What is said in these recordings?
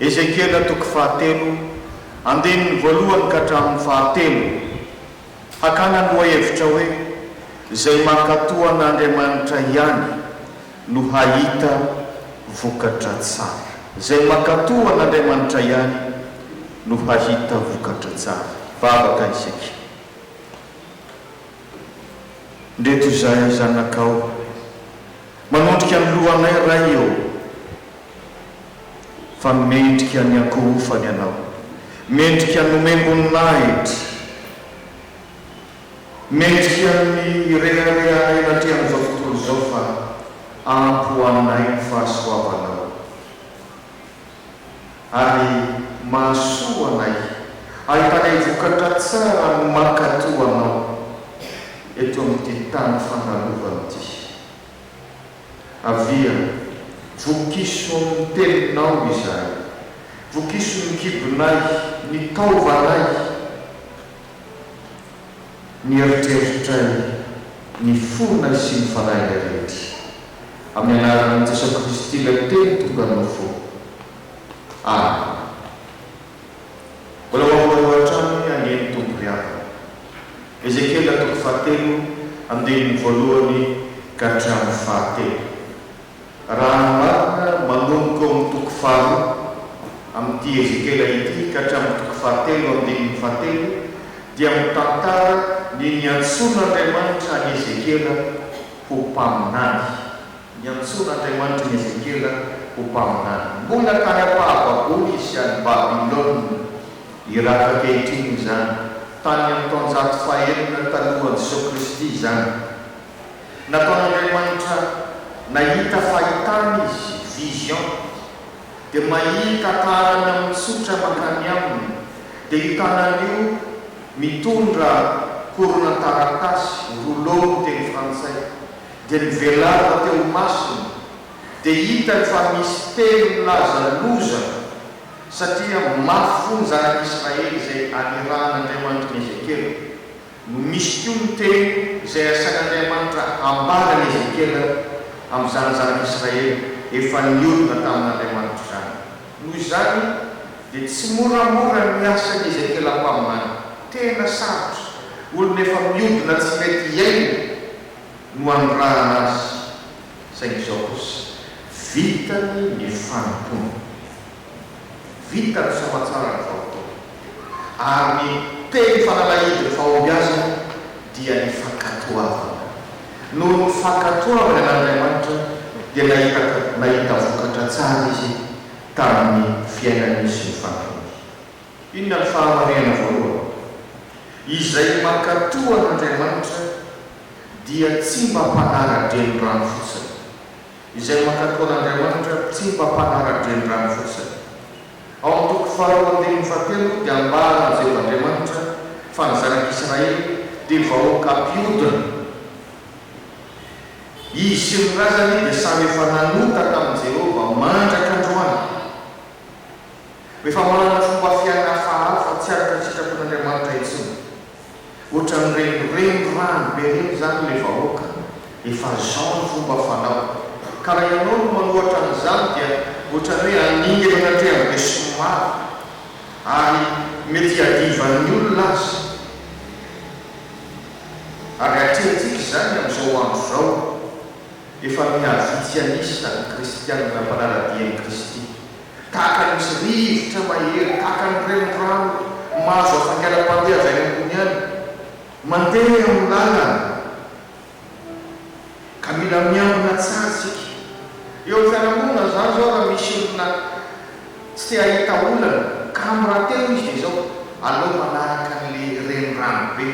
Ezekiela toko fahatelo, andininy voalohany ka hatramin'ny fahatelo, hakana ny lohahevitra hoe Izay mankatò an'Andriamanitra ihany no hahita vokatra tsara. Izay mankatò an'Andriamanitra ihany no hahita vokatra tsara. Vavaka isika. Ndreto izahay zanakao, manondrika ny lohanay Ray ô! Fa mendrika ny hakorofany ianao, mendrika ny homem-boninahitra, mendrika ny hireharehanay anatrehan'izao tontolo izao fa ampy ho anay ny fahasoavanao ary mahasoa anay, ahitanay vokatra tsara ny mankatò anao eto amin'ity tany fandalovana ity. Avia, vokiso amin'ny teninao izahay, vokiso ny kibonay, ny taovanay, ny eritreritray, ny fonay sy ny fanahinay rehetra. Amin'ny anaran'i Jesoa Kristy Ilay Teny tonga noho fo. Amena. Mbola ho aminareo hatrany anie ny Tompo ry havana. Ezekiela toko fahatelo andininy voalohany ka hatramin'ny fahatelo. Raha ny marina, manomboka eo amin'ny toko faharoa amin'ity Ezekiela ity ka hatramin'ny toko fahatelo andininy fahatelo dia mitantara ny niantsoan'Andriamanitra an'i Ezekiela ho mpaminany. Niantsoana Andriamanitra an'i Ezekiela ho mpaminany. Mbola tany am-pahababoana izy sy any Babylona Irak ankehitriny izany, tany amin'ny taonjato fahenina talohan'i Jesoa Kristy izany. Nataon'Andriamanitra nahita fahitana izy, vision. Dia mahita taranany mitsotra mankany aminy, dia io tanany io mitondra horonantaratasy, rouleau ny teny frantsay, Dia nivelava teo imasony, dia hitany fa misy teny milaza loza, satria mafy fo ny zanak'Israely izay anirahan'Andriamanitra an'i Ezekiela, no misy koa ny teny izay asain'Andriamanitra hambara an'i Ezekiela amin'izany zanak'Israely efa niodina tamin'Andriamanitra izany. Noho izany, dia tsy moramora ny asan'i Ezekiela mpaminany. Tena sarotra. Olona efa miodina tsy mety hiaina no anondrahana azy saingy izao kosa vitany ny fanompoana. Vita ny famantsarany vao teo ary ny teny fanalahidin'ny fahombiazany dia ny fankatoavana. Noho ny fankatoavany an'Andriamanitra dia nahita nahita vokatra tsara izy tamin'ny fiainany sy ny fanampiny. Inona ny fahamarihana voalohany? Izay mankatò an'Andriamanitra dia tsy mba mpanara-drenirano fotsiny. Izay mankatò an'Andriamanitra tsy mba mpanara-drenirano fotsiny. Ao amin'ny toko faharoa andininy fahatelo dia ambaran'i Jeho Andriamanitra fa ny zanak'Israely dia vahoaka mpiodina. Izy sy ny razany dia samy efa nanota tamin'i Jehovah mandrak'androany. Rehefa manana fomba fiaina hafahafa tsy araka ny sitrapon'Andriamanitra intsony. Ohatran'ireny renirano be ireny izany ilay vahoaka, efa zao ny fomba fanao, ka raha ianao no manohatra an'izany dia ohatran'ny hoe haningana ny hatrehany be sy ny maro, ary mety hiadivan'ny olona aza. Ary atrehintsika izany amin'izao andro izao. Efa mihavitsy an'isa ny Kristianina mpanara-dia an'i Kristy. Tahaka ny misy rivotra mahery, tahaka ny renirano mahazo hafainganam-pandeha avy any ambony any, mandeha amin'ny lalana, ka mila miambina tsara isika. Eo amin'ny fiarahamonina izany izao, raha misy olona tsy te hahita olana, kamo rahateo izy, dia izao, Aleo manaraka an'ilay renirano be,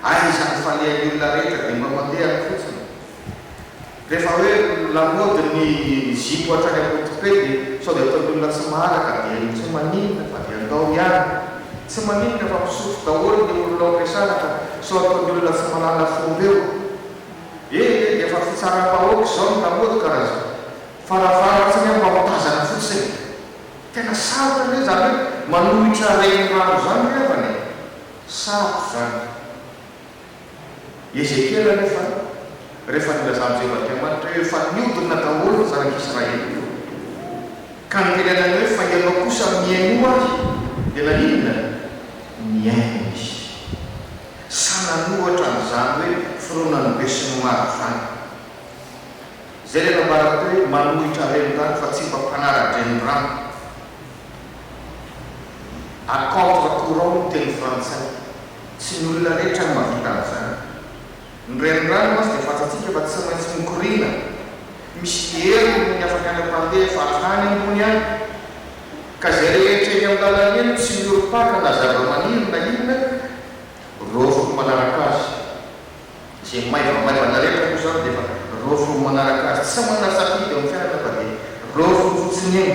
ary izany falehan'ny olona rehetra dia mba mandeha any fotsiny. Rehefa hoe lamaody ny zipo hatrany am-potope dia sao dia ataon'ny olona tsy maharaka dia intsony maninona fa dia ndao ihany. Tsy maninona fa misotro daholo ny olona ao am-piasanaka sao ataon'ny olona tsy mahalala fomba eo. Ee dia efa fitsaram-bahoaka izao ny lamaody ka raha izao. Farafaharatsiny aho mba ho tazana fotsiny. Tena sarotra anie izany hoe manohitra renirano izany ny havana e. Sarotra izany. I Ezekiela anefa, rehefa nilazan'i Jehovah Andriamanitra hoe efa nihodina daholo ny zanak'i Israely ireo, ka notenenany hoe, Fa ianao kosa mihainoa ho ahy, dia naninona? Nihaino izy. Sa nanohatra an'izany hoe fironan'ny besinimaro izany? Izay ilay nambarako teo hoe manohitra renirano fa tsy mba mpanara-drenirano. À contre-courant ny teny frantsay. Tsy ny olona rehetra no mahavita an'izany. Ny renirano mantsy dia fantatsika fa tsy maintsy mikoriana. Misy hery roa ny afaka any am-pandeha fa any ambony any. Ka izay rehetra eny amin'ny lalana eny tsy miorim-paka na zavamaniry na inona dia roafiny manaraka azy. Izay maivamaivana rehetra moa izany dia efa roafiny manaraka azy. Tsy manana safidy eo amin'ny fiainana fa dia roafiny fotsiny eo.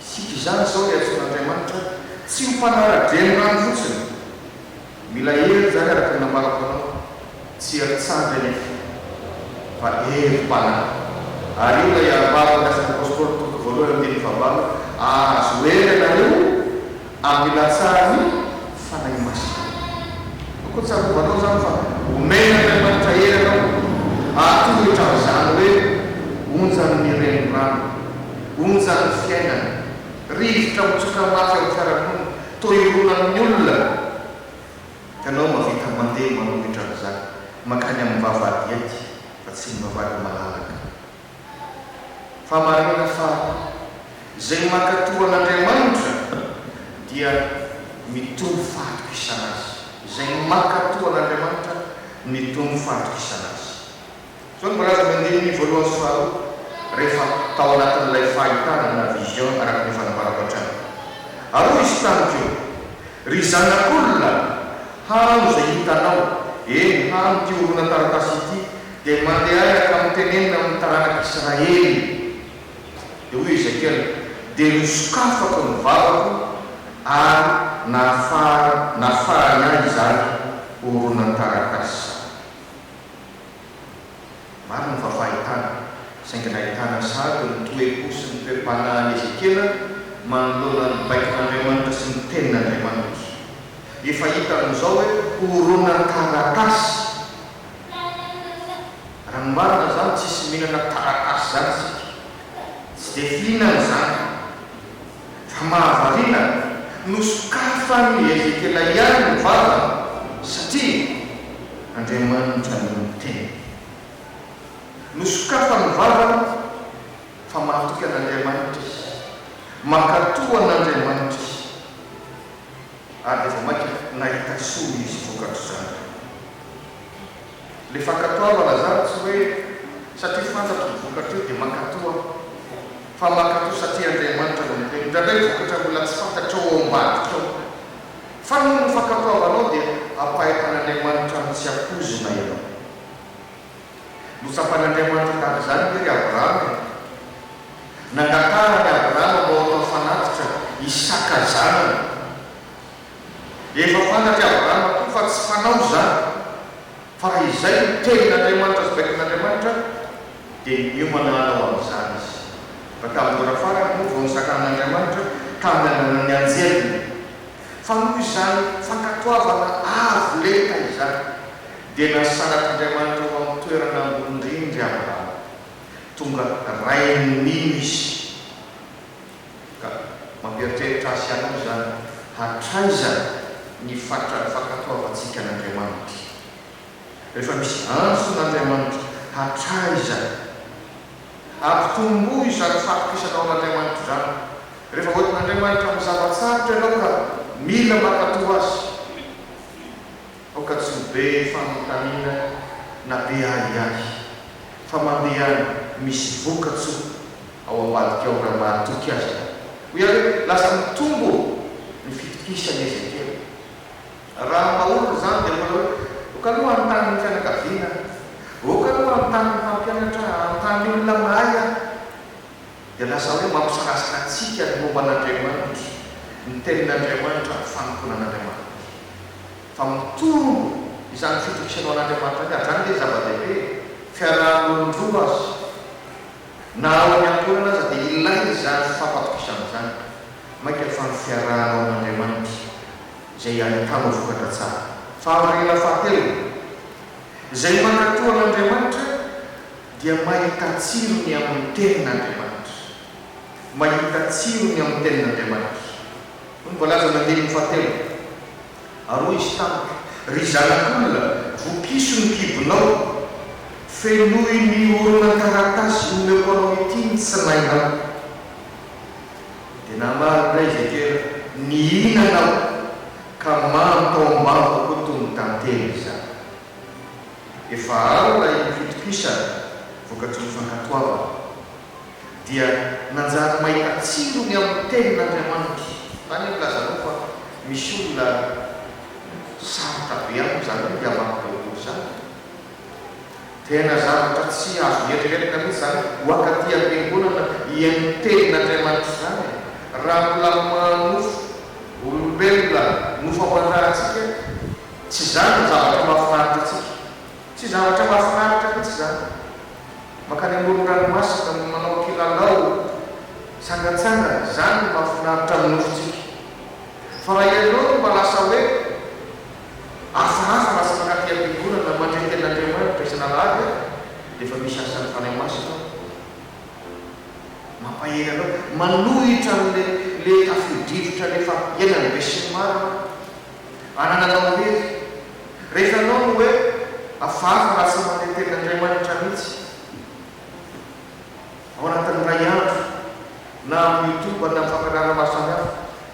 Isika izany izao dia antsoin'Andriamanitra tsy mifanara-drenirano fotsiny. Mila hery izany araka ny nambarako anao, tsy hery tsandry anefa fa herim-panahy. Ary io ilay arovava andrasan'Apostoly Paoly voalohany andininy fahavalo, Ahazo hery ianareo. Ampilatsahany Fanahy Masina. Koa tsarovanao izany fa omena Andriamanitra hery anao hahatohitra an'izany hoe onjan'ny renirano, onjan'ny fiainana, rivotra mitsoka mafy amin'ny fiarahamonina, toa irona amin'ny olona. Ianao mahavita mandeha manohitra an'izany mankany amin'ny vavahady ety fa tsy ny vavahady malalaka. Fa marina fa izay mankatò an'Andriamanitra dia mitombo fahatokisana Azy. Izay mankatò an'Andriamanitra mitombo fahatokisana Azy. Izao no voalaza amin'ny andininy voalohany sy faharoa rehefa tao anatin'ilay fahitana na vision araka ny fanambarako hatrany. Ary hoy Izy tamiko, Ry zanak'olona, hano izay hitanao, eny, hano ity horonan-taratasy ity, Dia mandeha aza ka mitenenina amin'ny taranak'i Israely. Dia hoy Ezekiela, Dia nosokafako ny vavako ary nahafaha, nafahany ahy izany horonan-taratasy. Marina fa fahitana, saingy nahitana sahady ny toe-po sy ny toe-panahin'i Ezekiela manoloana ny baikon'Andriamanitra sy ny Tenin'Andriamanitra. Efa hita amin'izao hoe horonan-taratasy. Raha ny marina izany tsisy mihinana taratasy izany isika. Tsy dia fihinana izany. Fa mahavariana, nosokafan'i Ezekiela ihany ny vavany satria Andriamanitra no niteny. Nosokafany ny vavany fa mahatoky an'Andriamanitra izy. Mankatò an'Andriamanitra izy. Ary dia vao mainka nahita soa izy vokatr'izany. Ilay fankatoa ho'a Lazaro tsy hoe satria fantatro ny vokatr'io dia mankatoa aho, fa mankatoa satria Andriamanitra no niteny. Indraindray ny vokatra mbola tsy fantatrao ao ambadika ao. Fa noho ny fankatoavanao dia ampahefan'Andriamanitra amin'ny tsy ampoizina ianao. Notsapan'Andriamanitra tamin'izany ve ry Abrahama e? Nangaharany Abrahama mba ho atao fanatitra Isaka zanany. Efa fantatr'i Abrahama tokoa fa tsy fanao izany, fa raha izay no tenin'Andriamanitra sy baikon'Andriamanitra, dia niomana hanao an'izany izy. Fa tamin'ny ora farany moa vao nisakanan'Andriamanitra tamin'ny ananan'ny anjeliny fa noho izany fankatoavana avo lenta izany. Dia nasarak'Andriamanitra ho amin'ny toerana ambony indrindra i Abrahama. Tonga rain'ny mino izy. Ka mampieritreritra ahy sy anao izany, hatraiza ny fatrany fankatoavantsika an'Andriamanitra? Rehefa misy antson'Andriamanitra, hatraiza? Ampitomboy izany fahatokisanao an'Andriamanitra izany. Rehefa hoentin'Andriamanitra amin'ny zava-tsarotra ianao ka mila mankatò Azy. Aoka tsy ho be fanontaniana na be ahiahy fa mandeha any misy vokatso ao ambadika ao raha mahatoky aza. Hoy aho hoe lasa mitombo ny fitokisan'i Ezekiela. Raha mba olona izany dia mbola hoe ok aloha hanontany ny fianakaviana aho, ok aloha hanontany ny mpampianatra aho, hanontany olona mahay aho. dia lasa hoe mampisalasala antsika ny momba an'Andriamanitra, ny Tenin'Andriamanitra ary ny fanompoanan'Andriamanitra. Fa mitombo izany fitokisanao an'Andriamanitra izany, hatrany ve ny zava-dehibe? Fiaraha-monina roa aza, na ao amin'ny ankohonana aza dia ilaina izany fifampatokisana izany, mainka fa ny fiarahanao amin'Andriamanitra izay ahitanao vokatra tsara. Fahamarinana fahatelony, Izay mankatò an'Andriamanitra, dia mahita tsiro ny amin'ny Tenin'Andriamanitra. Mahita tsiro ny amin'ny Tenin'Andriamanitra. Hoy ny voalazan'ny andininy fahatelo, Ary hoy Izy tamiko, Ry zanak'olona, vokiso ny kibonao, fenoy ny horonantaratasy omeko anao ity ny tsinainao. Dia namaly indray i Ezekiela, Nihinana aho, ka mamy tao am-bavako toy ny tantely izany. Efa alina iny fitokisana, vokatry ny fankatoavana, dia nanjary mahita tsiro ny amin'ny Tenin'Andriamanitra. Tany aho nilazanao fa misy olona sarotra be aminy izany hoe ny hamaky Baiboly izany. Tena zavatra tsy azo ieritreretina mihitsy izany hoakaty am-piangonana hihaino ny Tenin'Andriamanitra izany e! Raha mbola manofy olombelona nofo aman-drahantsika, Tsy izany no zavatra mahafinaritra antsika. Tsy zavatra mahafinaritra mihitsy izany. Mankany amoron-dranomasina no manao kilalao tsangantsangana, izany no mahafinaritra ny nofontsika. Fa raha ianao no mba lasa hoe hafahafa lasa mankaty am-piangonana mandre tena Andriamanitra isan'alahady aho dia efa misy asan'ny Fanahy Masina ao mampahery anao, manohitra an'ilay tafio-drivotra an'efa iainan'ny besinimaro aho. Anananao irery. Rehefa anao no hoe hafahafa raha tsy mametrpetra Andriamanitra mihitsy ao anatin'ny iray andro na amin'ny youtube na amin'ny fampianarana maro samihafa,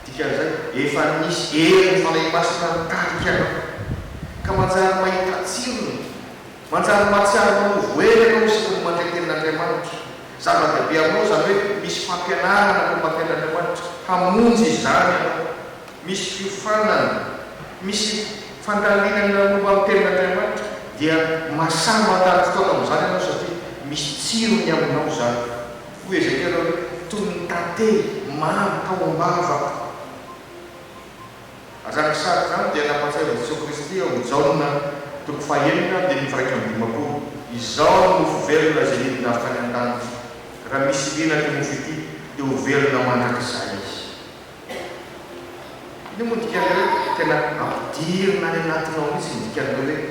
dikan'izay efa nisy herin'ny Fanahy Masina nitarika anao ka manjary mahita tsirony, manjary mahatsiaro anao ho voahery ianao isaky ny mandre tenin'Andriamanitra. Zava-dehibe aminao izany hoe misy fampianarana momba ny tenin'Andriamanitra hamonjy izany ianao. misy fiofanana, misy fandalinana momba ny Tenin'Andriamanitra, dia mahasahy mandany fotoana amin'izany ianao satria misy tsirony aminao izany. Hoy Ezekiela hoe, Toy ny tantely mamy tao am-bavako. Izany sary izany dia nampahatsiahy an'i Jesoa Kristy ao amin'ny Jaona toko fahenina andininy firaika amby dimampolo, Izaho no mofo velona izay nidina avy tany an-danitra. Raha misy liana ity mofo ity, dia ho velona mandrakizay izy. Io moa dikany hoe tena ampidirina any anatinao mihitsy ny dikan'ilay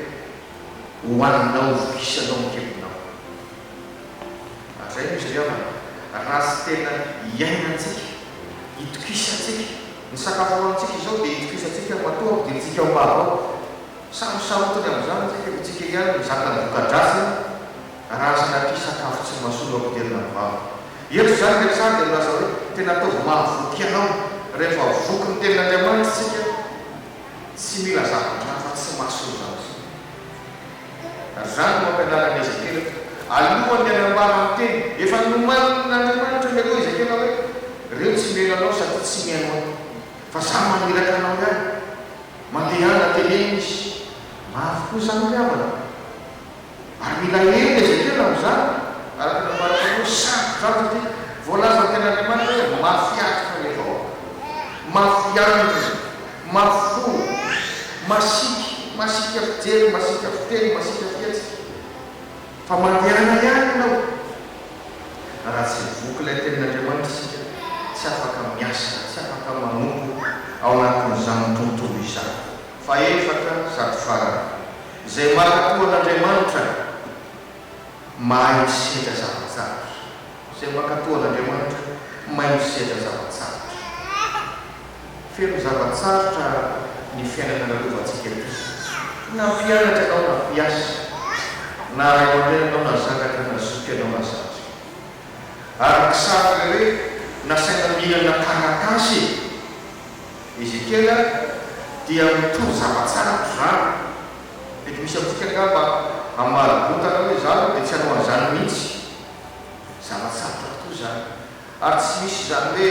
hoe ho anao voky isanao ny kibonao. Ary izay no izy ry havana, raha tsy tena iainantsika, itokisantsika, ny sakafo hohanintsika izao dia itokisantsika matoa ampidirintsika ao am-bava ao, samy sarotiny amin'izany isika fa isika ihany mizaka ny voka-dratsiny. Raha sanatria sakafo tsy mahasoa no ampidirina ny vava. Eto izany ilay mpisary dia milaza hoe, Tena ataovy mahavoky ianao. Rehefa voky ny Tenin'Andriamanitra isika, tsy mila zavatra hafa tsy mahasoa izany intsony. Ary izany no ampianaran'i Ezekiela eto. Alohan'ny hanambara ny teny, efa nomanin'Andriamanitra ny aloha Ezekiela hoe, Ireo tsy miaina anao sady tsy mihaino ahy. Fa izaho maniraka anao ihany. Mandehana, teneno izy. Maro koa izany ry havana. Ary mila heno Ezekiela amin'izany, araka ny nambarantsika hoe sarotra izany satria voalazan'ny Tenin'Andriamanitra hoe mafy atoka ny vahoaka, mafy andriny, mafy fo, masiaka, masiaka fijery, masiaka fiteny, masiaka fihetsika. Fa mandehana ihany ianao. Raha tsy voky ilay Tenin'Andriamanitra isika, tsy afaka miasa, tsy afaka manompo ao anatin'izany tontolo izany. Fahefatra sady farany. Izay mankatoa an'Andriamanitra mahay misedra zava-tsarotra. Izay mankatoa an'Andriamanitra mahay misedra zava-tsarotra. Feno zava-tsarotra ny fiainana nalovantsika ity. Na mpianatra ianao na mpiasa, na ray aman-dreny ianao na zanaka na zoky ianao na zandry. Araky sary ve hoe nasaina mihinana taratasy e? Ezekiela dia mitovy zava tsara amin izany. Mety misy amintsika angamba hamaly votana hoe za aloha dia tsy hanao an'izany mihitsy. Zava tsarotra tokoa izany. Ary tsy misy izany hoe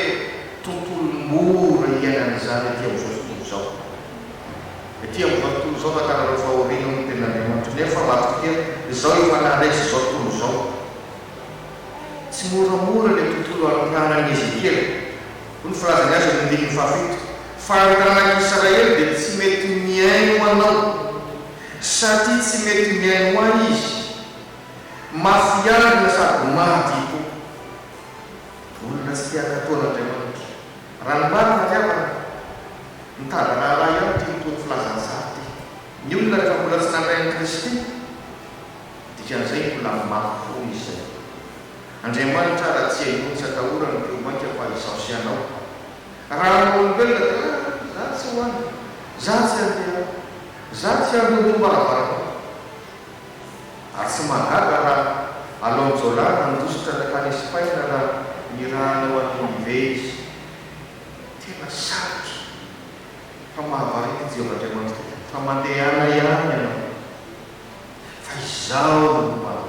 tontolo mora hiainana izany ety amin'izao tontolo izao. Ety amin'izao tontolo izao fantanareo fa aoriana hoy ny tenin'Andriamanitra. Nefa matokia izao efa naharesy izao tontolo izao. Tsy moramora ilay tontolo anontanan'i Ezekiela. Hoy ny filazany azy eo amin'ny andininy fahafito, Fa ny ranak'Israely dia tsy mety mihaino anao, satria tsy mety mihaino ahy izy, mafiarina sady maty ikoa. Olona tsy te hankatò an'Andriamanitra. Raha ny marina ry havana, mitady raharaha ihany ity mitory filazan'i Zara ity. Ny olona rehefa mbola tsy nandray an'i Kristy, dikan'izay mbola mafy foana izy izay. Andriamanitra raha tsy henoiny tsy atahorany ny mpino mainka fa izaho sy ianao. Raha amin'ny olombelona dia ah za tsy ho any, za tsy handeha any, za tsy handoro ny varavaranao. Ary tsy mahagaga raha Alon Jola nandositra nankany Espaina raha niraha hanao an'i Ninive izy. Tena sarotra fa mahavariana i Jehovah Andriamanitra dia fa mandehana ihany ianao fa izaho no ho any.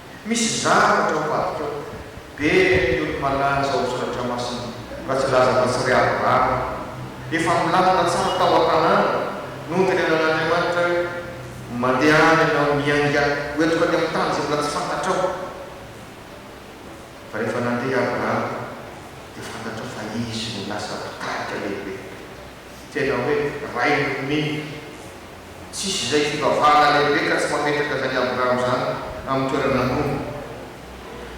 Misy zavatra ao vadiko ao. Be ny olo malanja ao Soratra Masina raha tsy laza fa tsy ry Abrahama. Efa milamina tsara tao an-tanàna. Nody ny anan'Andriamanitra hoe, Mandeha any ianao, miainga ho entiko any amin'ny tany izay mbola tsy fantatrao. Fa rehefa nandeha i Abrahama dia fantatrao fa izy no lasa mpitarika lehibe. Tena hoe rain'ny mino. Tsisy izay fivavahana lehibe ka tsy mametraka izany Abrahama izany amin'ny toerana ambony.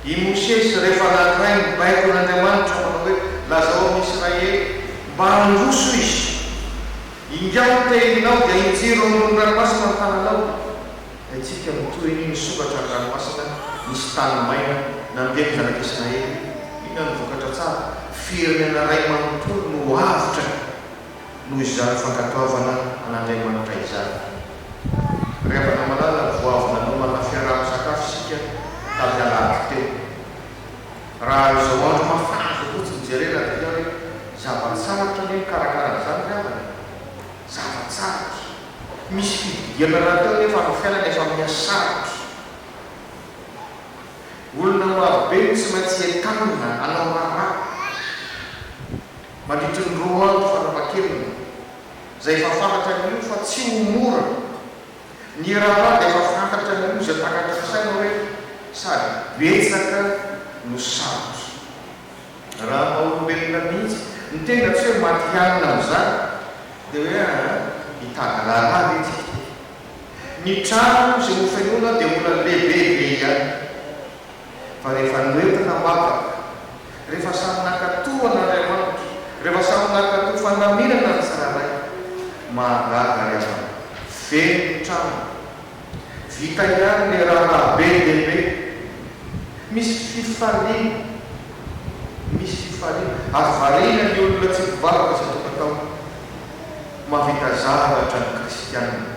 I Mosesy, rehefa nankiray ny baikon' Andriamanitra manao hoe, Lazao amin'ny Israely, mba handroso izy, Ingahy ny tehinao, dia injiro ao ambony ranomasina ny tananao, dia antsika no toy ny nisokatra ny ranomasina, nisy tany maina, nandeha ny Zanak' Israely. Inona no vokatra tsara? Firenena iray manontolo no avotra. noho izany fankatoavana an'Andriamanitra izany. Ry havana malala, vao avy nanomana fiaraha-misakafo isika tamin'ny alahady teo. Raha izao andro mafana izao fotsiny jerena dia hita hoe zava-tsarotra ny mikarakara an'izany ry havana e! Zava-tsarotra. Misy fididiana rahateo anefa amin'ny fiainana efa miha sarotra. Olona marobe no tsy maintsy entanina hanao raharaha. mandritry ny roa andro farafahakeliny, izay efa fantatra anio fa tsy ho mora. Ny raharaha dia efa fantatra anio izay takatr'isa saina hoe sady betsaka no sarotra. Raha ny maha-olombelona mihitsy ny tena tsy hoe matihanina amin'izany dia hoe ah hitady raharaha ve tsika ity? Ny trano izay hofenoina dia mbola lehibe be ihany. fa rehefa noentina ho afaka, rehefa samy naka tohana ry amaniko, rehefa samy naka toa fandaminana ny tsirairay, mahagaga ry havana, feno ny trano, vita ihany ilay raharaha be dia be, misy fifaliana, misy fifaliana, ary variana ny olona tsy mpivavaka isan-tokantaona, mahavita zavatra ny kristiana.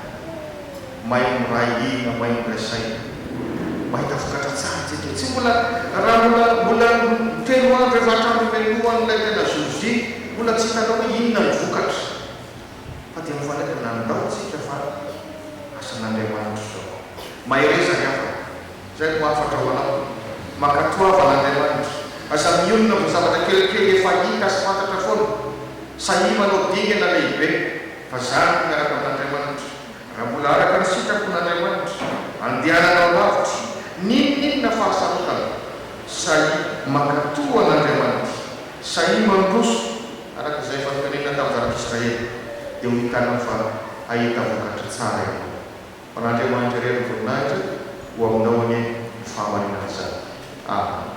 May miray hina, may miray saina. Mahita vokatra tsara isika. Tsy mbola, raha mbola, mbola feno andro efa hatramin'ny melohan'ilay tena jour-J, mbola tsy hitanao hoe inona ny vokatra. Fa dia mifandraika, nandao isika fa asan'Andriamanitra izao. Mahereza ry havana. Izay no hafatra ho anao. Mankatoavana Andriamanitra. Aza mionona amin'ny zavatra kelikely efa hita sy fantatra foana. Sahia manao dingana lehibe. Vazaha miaraka amin'Andriamanitra. Raha mbola araka ny sitrapon'Andriamanitra, andehananao lavitra, n'inon'inona fahasarotana, sahia mankatò an'Andriamanitra, sahia mandroso, araka izay efa notenenina tamin'ny zanak'i Israely, dia ho hitanao fa hahita vokatra tsara ianao. Ho an'Andriamanitra irery ny voninahitra, ho aminao anie ny fahamarinana izany. Amena.